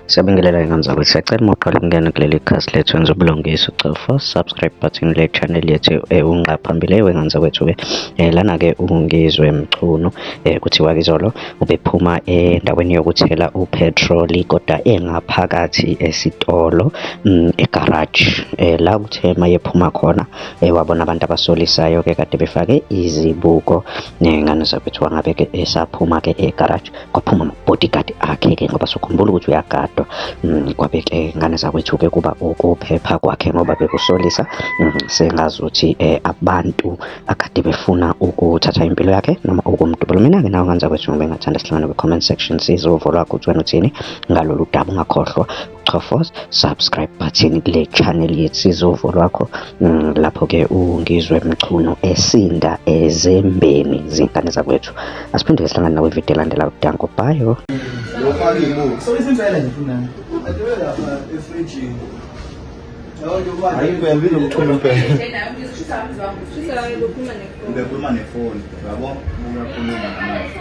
Siyabingelela ingane zakwethu siyacela uma uqala ukungena kuleli khasi lethu wenza ubulungiswa ucofa subscribe button le channel yethu eh, unqa phambili wengane zakwethu-ke um eh, lana-ke ungizwe mchunu um kuthiwa kizolo ubephuma endaweni yokuthela uphethroli kodwa engaphakathi esitolo mm, egaraji um la kuthe uma yephuma khona um wabona abantu abasolisayo-ke kade befake izibuko um ngane zakwethu wangabe-ke esaphuma-ke egaraji um kwaphuma nobodyguard akhe-ke ngoba sokhumbula ukuthi uyagadwa mm, kwabe ke ngane zakwethu-ke kuba ukuphepha kwakhe ngoba bekusolisa mm, sengazi ukuthi um abantu akade befuna ukuthatha impilo yakhe noma ukumdubula mina-ke nawo ngane zakwethu ngoba engathanda sihlangane kwi-comment section sizovulwa ukuthi wena uthini ngalolu daba ungakhohlwa Chofos subscribe button kule channel yethu sizovo lwakho mm, lapho ke ungizwe mchunu esinda ezembeni zinkane zakwethu asiphinde sihlangane nawe video elandela udanko bayo lofaka imuthi so isimpela nje funa adiwe lapha efridgini ayikwembile umculo mpela ngikhuluma nefoni yabo uyakhuluma namanje